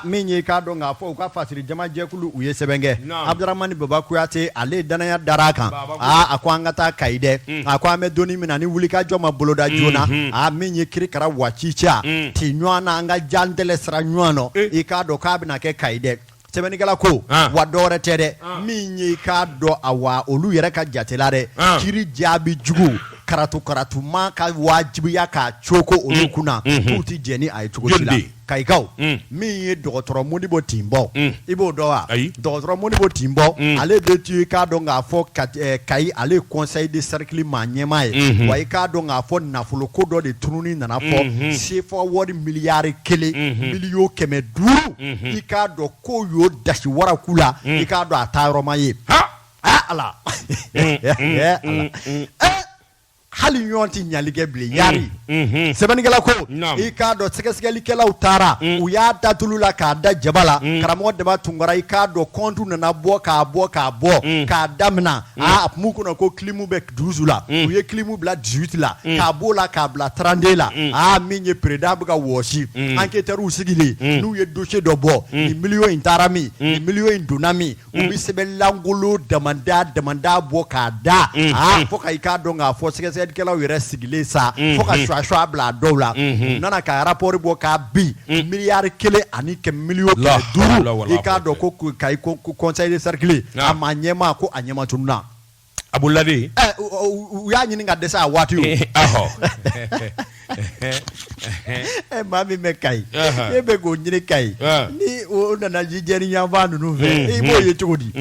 min ye k'a dɔn k'a fɔ u ka fasiri jamajɛkulu u ye sɛbɛn kɛ abuduramani baba kuyate ale dannaya dara a kan a ko an ka taa kayi dɛ mm. a ko an bɛ don min na ni wulikajɔ ma boloda mm-hmm. joona mm. a min ye kirikara waati ca mm. ti ɲɔgɔn na an ka jan tɛ sira ɲɔgɔn nɔ eh. i k'a dɔn k'a bɛna kɛ kayi dɛ sɛbɛnnikɛla ko ah. wa dɔwɛrɛ tɛ dɛ ah. min ye i k'a dɔn a wa olu yɛrɛ ka jatela dɛ ah. kiri jaabi jugu karatu karatuma ka wajibiya k'a cɔɔkɔ olu kunna k'u tɛ jɛn n'a ye cogo si la kayikaw min ye dɔgɔtɔrɔ modibo timbo i b'o dɔn wa dɔgɔtɔrɔ modibo timbo ale de tun i k'a dɔn k'a fɔ kayi ale kɔnsɛyi de sɛrikili maaɲɛmaa ye wa i k'a dɔn k'a fɔ nafolo ko dɔ de tununni nana fɔ sefa wari miliyari kelen miliyɔn kɛmɛ duuru i k'a dɔn ko y'o dasi wara ku la i k'a dɔn a taayɔrɔ ma ye ala hali ɲɔgɔn tɛ ɲali kɛ bilen mm, yari mm-hmm. sɛbɛnnikɛla ko i k'a dɔn sɛgɛsɛgɛlikɛlaw taara mm. u y'a da tulu la k'a da jaba la mm. karamɔgɔ daba tunkara i k'a dɔn kɔntu nana bɔ k'a bɔ k'a bɔ k'a damina a kun kɔnɔ ko kilimu bɛ duzi la u ye kilimu bila disiwiti la k'a b'o la k'a bila tranden la aa min ye pereda bɛ ka wɔsi anketɛriw sigilen n'u ye dosiye dɔ bɔ nin miliyɔn in taara min nin miliyɔn in donna min u bɛ sɛbɛn lankolon damada damada bɔ k'a da aa fo ka i k'a dɔn k'a fɔ sɛgɛsɛgɛlikɛlaw yɛrɛ sigilen sa fo ka sɔgɔsɔgɔ bila dɔw la u nana ka arapɔri bɔ k'a bɛn miliyari kelen ani kɛ miliyɔn kɛmɛ duuru i k'a dɔn ko kayi ko kɔnsɛyi de sɛrikili a maaɲɛmaa ko a ɲɛmatununna A bolo dɛ u y'a ɲini ka dɛsɛ a waati o maa min bɛ kayi e bɛ k'o ɲini kayi ni o nana jijɛni yanfan ninnu fɛ i b'o ye cogo di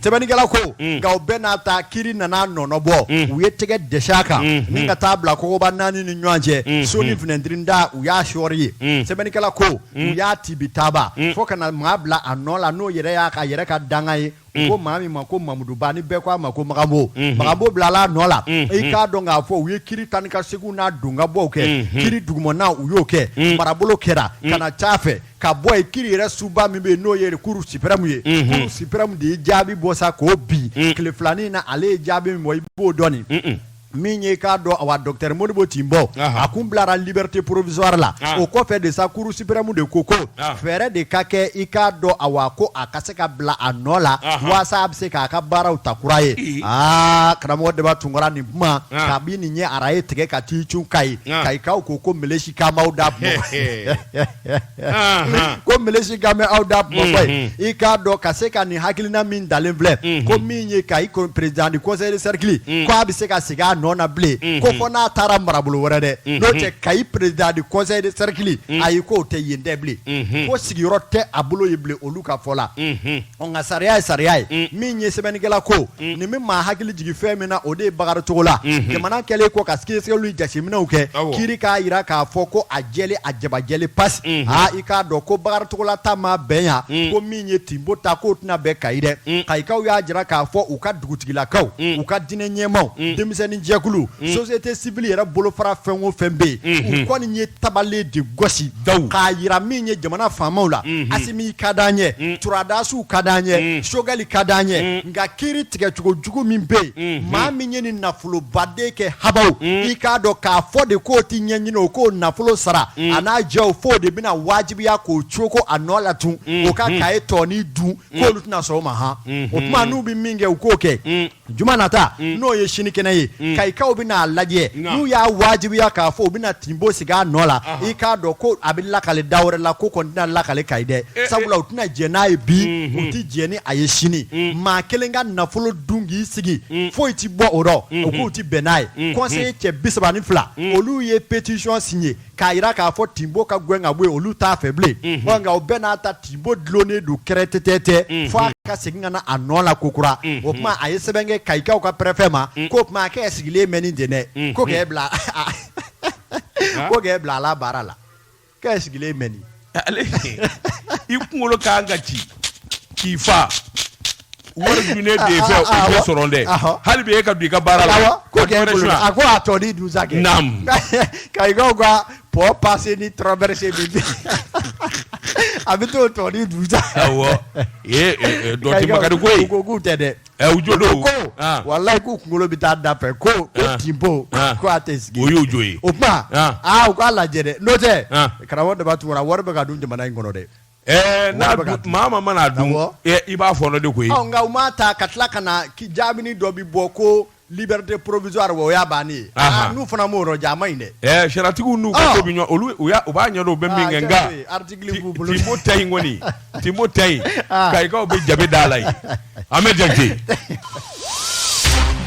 sɛbɛnnikɛla ko nka o bɛɛ n'a ta kiri nana o nɔ bɔ u ye tɛgɛ da a kan nin ka taa a bila kogoba naani ni ɲɔgɔn cɛ so nin finɛtirintan u y'a sɔri yen sɛbɛnnikɛla ko u y'a tibitaba fo ka na maa bila a nɔ la n'o yɛrɛ y'a ka yɛrɛ ka dankan ye ko mm. maa min ma ko mamuduba ni bɛɛ ko a ma ko magabo mm-hmm. magabo bilala a nɔ la mm-hmm. i k'a dɔn k'a fɔ u ye kiri taa ni ka seginw n'a don ka bɔw kɛ mm-hmm. kiri dugumana u y'o kɛ mm. marabolo kɛra mm. ka na c'a fɛ ka bɔ yen kiri yɛrɛ soba min bɛ yen n'o ye kuru sipɛrɛmu ye kuru sipɛrɛmu de ye jaabi bɔ sa k'o bin tile fila nin na ale ye jaabi min bɔ i b'o dɔn nin min ye i k'a dɔn awa docteur modibo tinbo a kun bilara liberté provisoire la o kɔfɛ de sa kuru sipɛrɛmu de ko ko fɛɛrɛ de ka kɛ i k'a dɔn awa ko a ka se ka bila a nɔ la walasa a bɛ se k'a ka baaraw ta kura ye aa karamɔgɔ deba tunkara nin kuma kabini nin ye arayi tigɛ ka t'i cun kayi kayikaw ko ko msikamawda ko misi ka bɛ aw da kuma i k'a dɔn ka se ka nin hakilina min dalen filɛ ko min ye kayi président du conseil de cercle k' a bɛ se ka sigi a nɔ na bilen ko fɔ n'a taara marabolo wɛrɛ dɛ n'o tɛ kayi président du conseil de cercle ayi k'o tɛ yen dɛ bilen ko sigiyɔrɔ tɛ a bolo yen bilen olu ka fɔ la Nka sariya ye sariya ye min ye sɛbɛnnikɛla ko nin bɛ maa hakili jigin fɛn min na o de ye bakari togola jamana kɛlen kɔ ka sɛgɛsɛgɛli jateminɛw kɛ kiri k'a jira k'a fɔ ko a jɛlen a jaba jɛlen pasi aa i k'a dɔn ko bakari togola ta maa bɛn yan ko min ye tinbo ta k'o tɛna bɛn kayi dɛ kayikaw y'a jira k'a fɔ u ka dugutigilakaw u ka diinɛ ɲɛmaw denmisɛnnin jɛkulu société civile yɛrɛ bolofara fɛn o fɛn bɛ yen u kɔni ye tabale de gosi k'a jira min ye jamana faamaw la asimi ka di an ye sɔrɔdasiw ka di an ye sogɛli ka di an ye nka kiri tigɛcogo jugu min bɛ yen maa min ye nin nafoloba de kɛ ha i k'a dɔn k'a fɔ de k'o tɛ ɲɛɲini o k'o nafolo sara a n'a jɛw fo de bɛna wajibiya k'o cooko a nɔ la tun o ka kayi tɔnin dun k'olu tɛna sɔn o ma ha o tuma n'u bɛ min kɛ u k'o kɛ Juma nata mm. n'o ye sinikɛnɛ ye mm. kayikaw bɛn'a lajɛ n'u y'a wajibiya k'a fɔ u bɛna tinbo sigi a nɔ la i k'a dɔn ko a bɛ lakali da wɛrɛ la k'o kɔni tɛna lakali kayi dɛ eh, eh. sabula u tɛna jɛn n'a ye bi mm-hmm. u tɛ jɛn ni a ye sini mm. maa kelen ka nafolo dun k'i sigi foyi tɛ bɔ o rɔ mm-hmm. u k'u tɛ bɛn n'a ye conseiller mm-hmm. cɛ bi saba ni fila olu ye petisiyɔn siɲɛ k'a jira k'a fɔ tinbo ka gɛn ka bɔ yen olu t'a fɛ bilen wa nka o bɛɛ n'a ta tinbo dulonnen don kɛrɛtɛtɛtɛ fo a ka segin ka na a nɔ la kokura o tuma a ye sɛbɛn kɛ kayikaw ka pɛrɛfɛ ma k'o tuma k'e sigilen bɛ nin den dɛ ko k'e bila ko k'e bila a la baara la k'e sigilen bɛ nin ale i kunkolo ka kan ka ci k'i fa wari dunnen de ye fɛ o tɛ sɔrɔ dɛ Awɔ. hali bi e ka don i ka baara la Awɔ, ko ka kɛ dɔ wɛrɛ bolo suɲɛ. a ko a tɔ ni dusa kɛ Naam. kayikaw ka pɔn pase ni traverse bi bi a bɛ t'o tɔ ni dusa Awɔ. Ee, ee, ee, dɔ tɛ Makari ko ye. u ko k'u tɛ dɛ ɛ u jo don ko ah. walayi k'u kunkolo bɛ taa da fɛ ko ko ah. Timbo ah. ko a tɛ sigi o y'o jo ye o tuma aa u k'a lajɛ dɛ n'o tɛ karamɔgɔ Daba Tunkara wari bɛ ka dun jamana in kɔnɔ dɛ. Eh, n'a maa ma mana dun eh, i b'a fɔɔnɔ de koyi. nka u m'a ta ka tila ka na i jaabi ni dɔ bi bɔ ko. Liberté provisoire o y'a bannen ye, anhan, n'u fana m'o yɔrɔ jan a man ɲi dɛ, ɛɛ sariatigiw n'u ka ko bɛ ɲɔgɔn olu u y'a u b'a ɲɛdɔn u bɛ min kɛ nka Timbo ta in kɔni Timbo ta in kayi k'aw bɛ jabe d'a la yen Ahmed Jakite.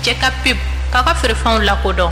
Jɛkapib, k'aw ka feerefɛnw lakodɔn.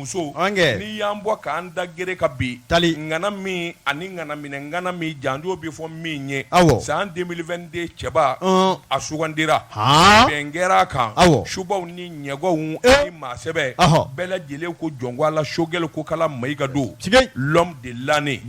muso nin y'an bɔ k'an da gɛrɛ ka bi ŋana min ani ŋana minɛ ŋana min janjo bɛ fɔ min ye aw san 2022 cɛba a sugandira bɛn kɛra a kan aw subaw ni ɲɛganw ani maa sɛbɛ bɛɛ lajɛlen ko jɔn a la Sogɛli Kokala Mayiga don l'homme de l'année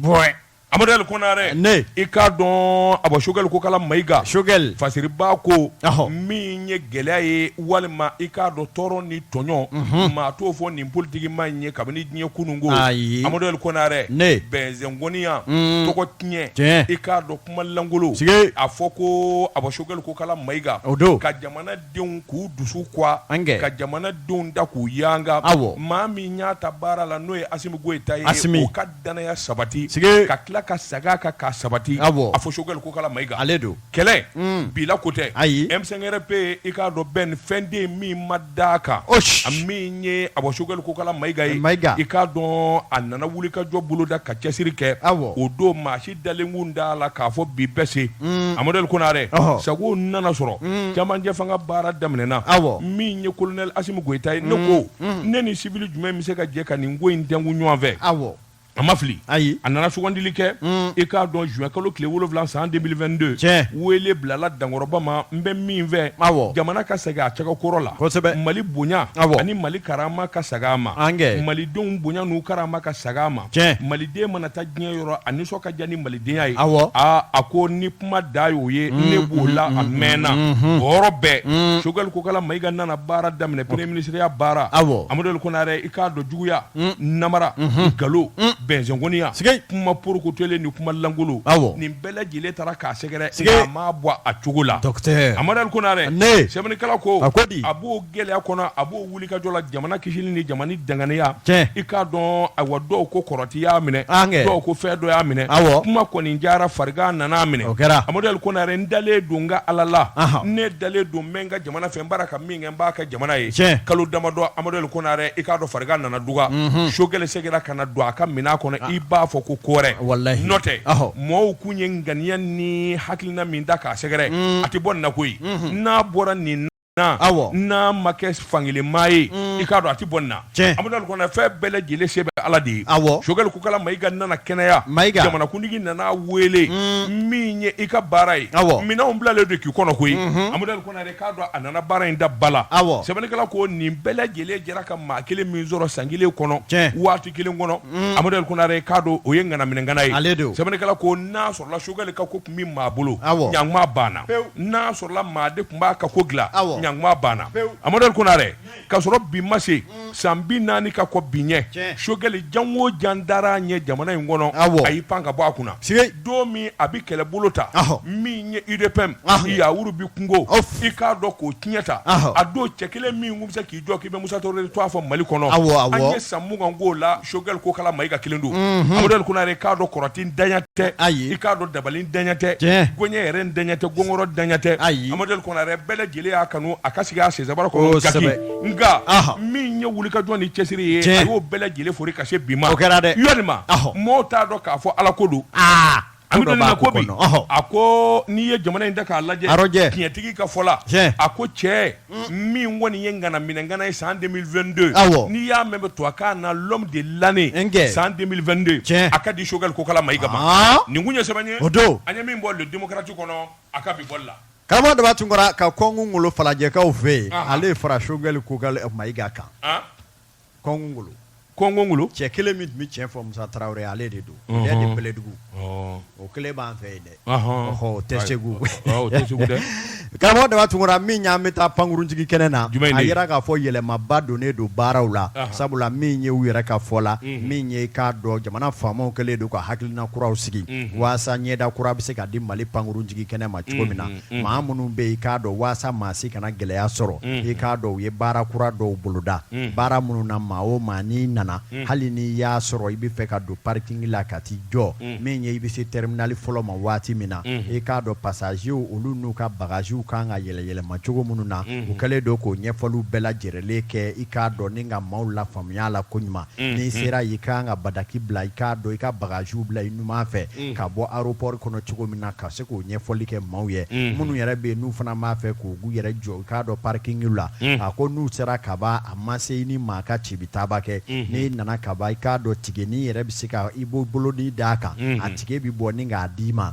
Amaduri Konare ne i k'a dɔn a bɔ Sogɛli Kokala Mayiga Sogɛli fasiribaa ko min ye gɛlɛya ye walima i k'a dɔn tɔɔrɔ ni tɔɲɔ maa t'o fɔ nin politikimaa in ye kabini diɲɛ kunun ko ayi amaduri Konare ne bɛnzɛnkoniya tɔgɔtiɲɛ tiɲɛ i k'a dɔn kumalankolon sigi a fɔ ko a bɔ Sogɛli Kokala Mayiga o don ka jamanadenw k'u dusu gwan ka jamanadenw da k'u yanga aw maa min y'a ta baara la n'o ye Asimi Goyita ye a dannaya sabati ka tila ka segin a kan k'a sabati a fɔ Sogɛli Kokala Mayiga ale don kɛlɛ bila ko tɛ ayi M5-RFP i k'a dɔn bɛn ni fɛnden min ma da kan a min ye a fɔ Sogɛli Kokala Mayiga i k'a dɔn a nana wuli ka jɔ bolo da ka cɛsiri kɛ o don maa si dalen kun t'a la k'a fɔ bi bɛ se amaduri Konare sago nana sɔrɔ cɛmancɛ fanga baara daminɛna min ye kolonɛli Asimi Goyita ye ne ko ne ni siwili jumɛn bɛ se ka jɛ ka nin ko in tɛnku ɲɔgɔn fɛ aw a ma fili ayi a nana sugandili kɛ i k'a dɔn zuwɛn kalo tile wolonwula san 2022 Tiɲɛ. wele bilala dankɔrɔba ma n bɛ min fɛ Awɔ. jamana ka segin a cogo kɔrɔ la Kosɛbɛ. mali bonya Awɔ. ani mali karama ka segin a ma An kɛ. malidenw bonya n'u karama ka segin a ma Tiɲɛ. maliden mana taa diɲɛ yɔrɔ a nisɔn ka diya ni malidenya ye Awɔ. aa a ko ni kuma da y'o ye mm, ne b'o mm, la mm, a mɛnna o yɔrɔ bɛɛ Sogɛli Kokala Mayiga nana baara daminɛ premier minisiriya baara amaduli konare i k'a dɔn juguya namara mm-hmm. nkalon bɛnzɛnkoniya kuma porokotolen ni kuma lankolon nin bɛɛ lajɛlen taara k'a sɛgɛrɛ a ma bɔ a cogo la amaduli konare sɛbɛnnikala ko a b'o gɛlɛya kɔnɔ a b'o wuli Wulikajɔ la jamana kisili ni jamana danganeya tiɲɛ i k'a dɔn ayiwa dɔw ko kɔrɔti y'a minɛ dɔw ko fɛn dɔ y'a minɛ kuma kɔni cayara farigan nana minɛ o kɛra amadu konare n dalen don n ka ala la ne dalen don n bɛ n ka jamana fɛ n baara ka min kɛ n b'a kɛ jamana ye cɛ kalo damadɔ amadu konare i k'a dɔn farigan nana dɔgɔya sogɛli seginna ka na don a ka minɛn kɔnɔ i b'a fɔ ko kɔrɔ walayi nɔ tɛ mɔgɔw tun ye ŋaniya ni hakilina min da k'a sɛgɛrɛ a tɛ bɔ na koyi n'a bɔra nin n'a ma kɛ fankelen maa ye mm. i k'a dɔn a tɛ bɔ na amadu konare fɛn bɛɛ lajɛlen se bɛ ala de ye sogɛli kokala mayiga nana kɛnɛya jamanakuntigi nana weele mm. min ye i ka baara ye minɛnw bilalen don k'i kɔnɔ koyi mm-hmm. amadu konare k'a dɔn a nana baara in da bala sɛbɛnnikɛla ko nin bɛɛ lajɛlen jɛra ka maa kelen min sɔrɔ san kelen kɔnɔ waati kelen kɔnɔ mm. amadu konare k'a dɔn o ye ŋana minɛ ŋana ye sɛbɛnnikɛla ko n'a sogɛli ka ko tun bɛ maa bolo ɲinan kuma banna n'a sɔrɔla maa de tun b'a ka ko dilan ɲinan kuma banna amadu konare ka sɔrɔ bi ma se san bi naani ka kɔ bi ɲɛ sogɛli jan o jan dara a ɲɛ jamana in kɔnɔ a y'i pan ka bɔ a kunna don min a bɛ kɛlɛbolo ta min ye UDPM y'a wuru bɛ kungo i k'a dɔn k'o tiɲɛ ta a don cɛ kelen min bɛ se jɔ k'i bɛ musa tarawele tɔgɔ fɔ mali kɔnɔ an ye san mugan k'o la sogɛli kokala mayiga kelen don amadu konare i k'a dɔn kɔrɔtɛ daɲa tɛ ayi i k'a dɔn dabali daɲa tɛ ko ɲɛ yɛrɛ daɲa tɛ gongoro daɲa tɛ ayi amadu konare bɛɛ lajɛlen y'a kanu a ka sigi a sen sabara nka min ye wulikajɔ ni cɛsiri ye a y'o bɛɛ lajɛlen fori ka se bi ma kɛra dɛ mɔgɔw t'a dɔn k'a fɔ ala ko don A bɛ na ko a ko n'i ye jamana in da k'a lajɛ tiɲɛtigi ka fɔ la a ko cɛ min kɔni ye ŋana minɛ ŋana ye san deux mille vingt-deux n'i y'a mɛn bɛ tɔgɔ k'a na l'homme de l'année san deux mille vingt-deux cɛ a ka di sogɛli kokala mayiga ma nin tun ye sɛbɛn ye o don an ye min bɔ le démocrate kɔnɔ a ka bi bɔ la karamɔgɔ daba tunkara ka kɔngɔ ngolo falajɛkaw fɛ yen ale fara sogɛli kokala mayiga kan Kɔngɔ ngolo cɛ kelen min tun bɛ tiɲɛ fɔ musa tarawele ye ale de don dɛ bɛlɛdugu o kelen b'an fɛ yen dɛ o tɛ segu karamɔgɔ daba tunkara min y'an bɛ taa pankurunjigikɛnɛ na a jira k'a fɔ yɛlɛmaba donnen don baaraw la sabula min ye u yɛrɛ ka fɔ la min ye k'a dɔn jamana faamaw kɛlen don ka hakilina kuraw sigi walasasa ɲɛda kura bɛ se ka di mali pankurunjigikɛnɛ ma cogo min na maa minnu bɛ i k'a dɔn waasa maa si kana gɛlɛya sɔrɔ i k'a dɔn u ye baara kura dɔw boloda baara minnu na maa o maa n'i nana hali ni y'a sɔrɔ i bɛ fɛ ka don parikingi la ka t'i jɔ min ye i bɛ se tɛriminali fɔlɔ ma waati min na i k'a dɔn pasazew olu n'u ka bagaziw ka kan ka yɛlɛyɛlɛma cogo minnu na u kɛlen don k'o ɲɛfɔliw bɛɛ lajɛrɛlen kɛ i k'a dɔn ni ka maaw lafaamuya la ko ɲuman n'i sera yen i ka kan ka bataki bila i k'a dɔn i ka bagaziw bila i ɲuman fɛ ka bɔ aropɔri kɔnɔ cogo min na ka se k'o ɲɛfɔli kɛ maaw ye minnu yɛrɛ bɛ yen n'u fana b'a fɛ k'u yɛrɛ jɔ i k'a dɔn parikiŋi la a ko n'u sera ka ban a ma se i ni maa ka ci bɛ taaba kɛ n'i nana ka ban i k'a dɔn tikɛ nin i yɛrɛ bɛ se k' i b'o bolo di d'a kan a tikɛ bɛ bɔ ni k'a d'i ma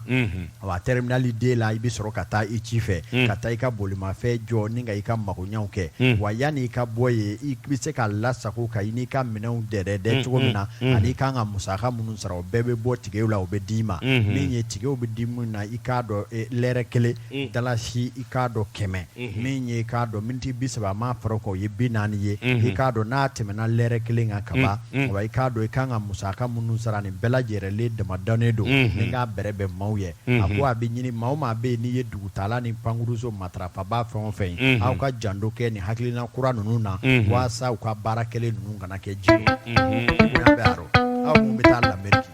wa tɛriminali de la i bɛ sɔrɔ ka taa i ci fɛ ka taa i ka bolimafɛn jɔ ni ka i ka magoɲaw kɛ wa yanni i ka bɔ yen i bɛ se ka lasago ka i n'i ka minɛnw dɛ dɛ cogo min na ani i ka kan ka musaka minnu sara o bɛɛ bɛ bɔ tikɛw la o bɛ d'i ma min ye tikɛw bɛ di min na i k'a dɔn lɛrɛ kelen dalasi i k'a dɔn kɛmɛ min ye i k'a dɔn miniti bi saba a ma fɔra k'o ye bi naani ye i k'a dɔn n'a tɛmɛna lɛrɛ kelen kan ka ban i k'a dɔn i ka kan ka musaka minnu sara nin bɛɛ lajɛlen de dama dannen don ni k'a bɛrɛbɛn maaw ye a ko a bɛ ɲini maa o maa bɛ yen n'i ye dugutaala ni pankurunso matarafabaa fɛn o fɛn ye aw ka janto kɛ nin hakilina kura ninnu na walasa u ka baara kɛlen ninnu kana kɛ ji baro aw kun bɛ taa Lameriki